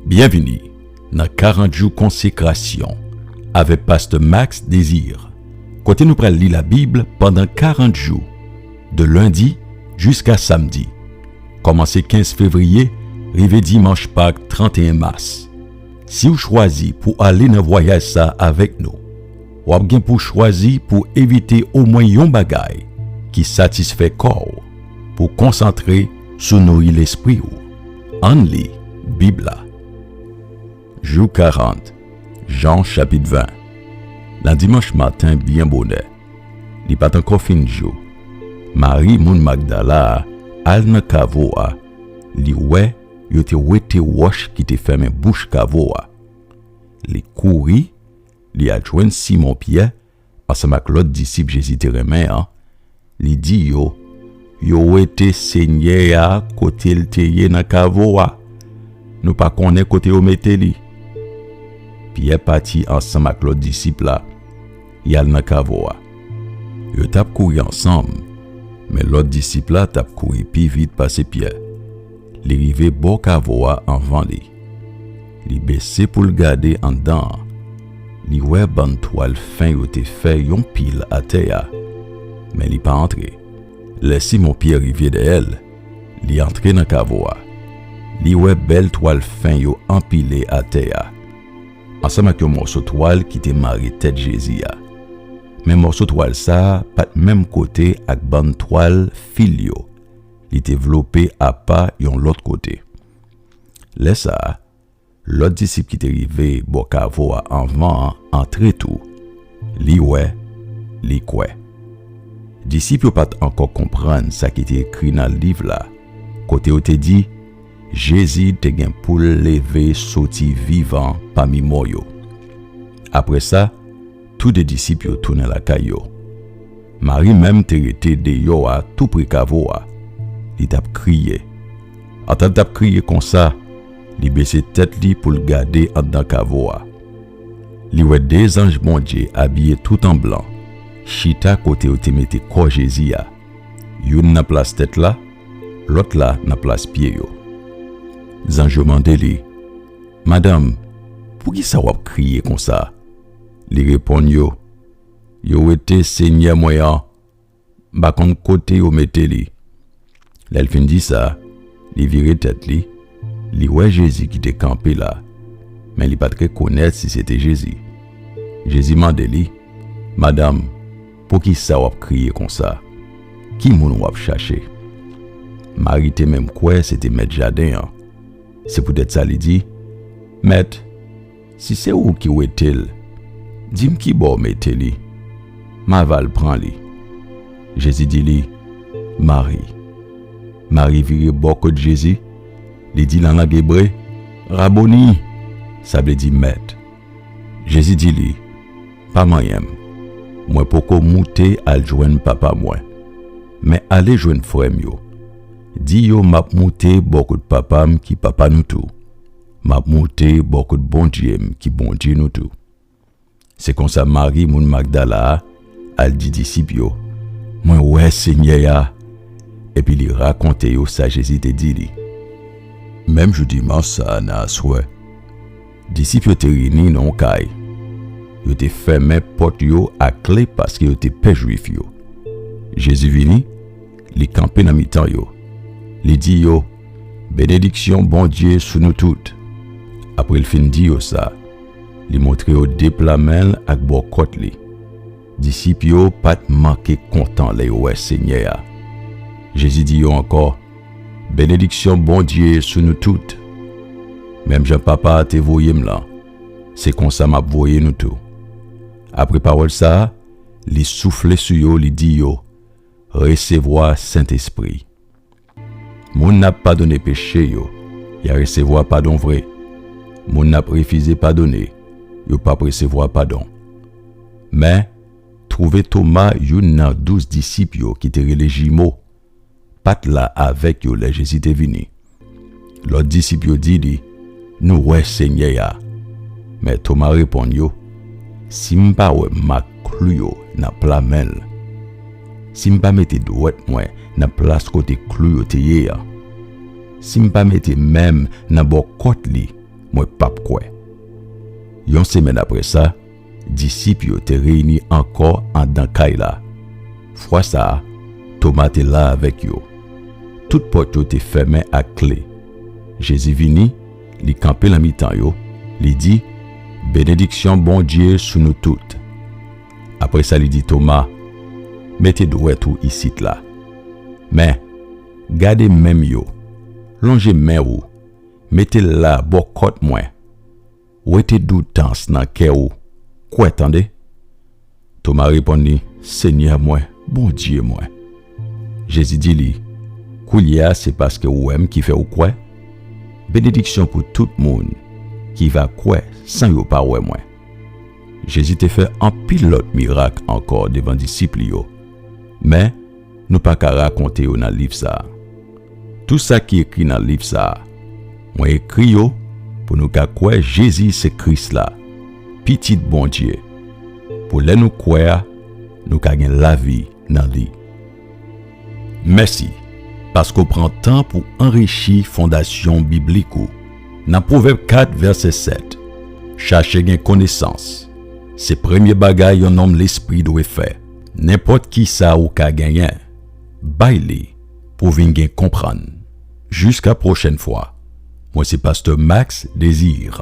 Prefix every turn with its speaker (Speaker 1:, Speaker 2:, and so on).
Speaker 1: Byenvini nan 40 jou konsekrasyon avèk pastè Max Désir kote nou pral li labib pandan 40 jou de lendi jiska samdi kòmanse 15 fevriye rive dimanch pak 31 mas siw chwazi pou ale nan vwayaj sa avèk nou wap gen pou chwazi pou evite omwen yon bagay ki satisfè kòw pou konsantre sou nouri lespriw. Ann li Bib la. Jou 40, Jan chapit 20 Nan dimanch maten byen bonè, li pa t ankò fin jou, Mari moun Magdala a al nan kavo a, li wè yo te wete wòch ki te fèmen bouch kavo a. Li kouri, li al jwenn Simon Pyè ansanm ak lòt disip Jezi te renmen an, li di yo, Yo wete Senyè a kote l te ye nan kavo a. Nou pa konnen kote yo mete li. Pyè pati ansanm ak lòt disip la, y al nan kavo a. Yo t ap kouri ansanm, men lòt disip la t ap kouri pi vit pase Pyè. Li rive bò kavo a anvan li. Li bese pou l gade anndan an. Li wè bann twal fen yo te fè yon pil atè a. Men li pa antre. Lè Simon Pyè rive dèyè l, li antre nan kavo a. Li wè bèl twal fen yo anpile atè a, ansanm ak yon mòso twal ki te mare tèt Jezi a. Men mòso twal sa a pa t menm kote ak bann twal fil yo. li te vlope apa yon lòt kote. Lè sa a, lòt disip ki te rive bò kavo a anvan an antre tou. Li wè, li kwè. Disip yo pa t ankò konprann sa ki te ekri nan liv la kote yo te di Jezi te gen pou l leve soti vivan pami mò yo. Apre sa, Tou de disip yo tounen lakay yo. Mari menm te rete deyò a tou pre kavo a. Li t ap kriye. Antan l t ap kriye konsa, li bese tèt li pou l gade anndan kavo a. Li wè de zanj Bondye abiye tout an blan chita kote yo te mete kò Jezi a, youn nan plas tèt la, lòt la nan plas pye yo. Zanj yo mande li, Madanm, poukisa w ap kriye konsa? Li reponn yo, Yo wete senyè mwen an, m pa konn kote yo mete li. Lè l fin di sa, li vire tèt li, li wè Jezi ki te kanpe la, men li pa t rekonèt si se te Jezi. Jezi mande li, Madanm, poukisa w ap kriye konsa? Ki moun w ap chache? Mari te menm kwè se te mèt jaden an, se poutèt sa li di, Mèt! Si se ou ki wete l, di m ki bò w mete li, m a va l pran li. Jezi di li, Mari. Mari vire bò kot Jezi, li di nan lang ebre, Raboni! sa vle di, Mèt. Jezi di li, Pa manyen m, mwen poko moute al jwenn Papa mwen. Men ale jwenn frè m yo, di yo m ap moute bò kot Papa m ki Papa nou tou, Map moute bò kot Bondye m ki Bondye nou tou. Se konsa Mari moun Magdala a al di disip yo, Mwen wè Senyè a! Epi li rakonte yo sa Jezi te di li. Menm jou Dimanch sa a nan aswè, disip yo te reyini nan yon kay. Yo te fèmen pòt yo ak kle paske yo te pè Jwif yo. Jezi vini. li kanpe nan mitan yo, li di yo, Benediksyon Bondye sou nou tout. Apre l fin di yo sa, li montre yo de pla men l ak bò kòt li. Disip yo pa t manke kontan lè yo wè Senyè a. Jezi di yo ankò, Benediksyon Bondye sou nou tout. Menm jan Papa a te voye m lan, se konsa m ap voye nou tou. Apre pawòl sa a, li soufle sou yo, li di yo, Resevwa Sentespri Moun n ap padone peche yo, y a resevwa padon vre. Moun n ap refize padone, yo pap resevwa padon. Men, twouve Toma, youn nan douz disip yo ki te rele Jimo, pa t la avèk yo lè Jezi te vini. Lòt disip yo di li, Nou wè Senyè a. Men Toma reponn yo, Si m pa wè mak klou yo nan pla men l, si m pa mete dwèt mwen nan plas kote klou yo te ye an, si m pa mete men m nan bò kòt li, mwen pap kwè. Yon semèn apre sa, Disip yo te reyini ankò anndan kay la. Fwa sa a, Toma te la avèk yo. Tout pòt yo te fèmen ak kle. Jezi vini, li kanpe nan mitan yo, li di, Benediksyon Bondye sou nou tout. Apre sa, li di Toma, Mete dwèt ou isit la. Men, gade men m yo. Lonje men ou, mete l la bò kòt mwen. Wete doutans nan kè ou, kwè tande. Toma reponn li, Senyè mwen, Bondye mwen. Jezi di li, Koulye a se paske ou wè m ki fè ou kwè? Benediksyon pou tout moun ki va kwè san yo pa wè mwen. Jezi te fè anpil lòt mirak ankò devan disip li yo, men, nou pa ka rakonte yo nan liv sa a. Tou sa ki ekri nan liv sa a, mwen ekri yo pou nou ka kwè Jezi se Kris la, Pitit Bondye, pou lè nou kwè a, nou ka gen lavi nan li. Mèsi paske w pran tan pou anrichi fondasyon biblik ou nan Pwovèb 4, vèsè 7, Chache gen konesans, se premye bagay yon nonm lespri dwe fè. Nenpòt kisa ou ka genyen, bay li pou vin gen konprann. Jiska pwochèn fwa, mwen se Pasteur Max Désir.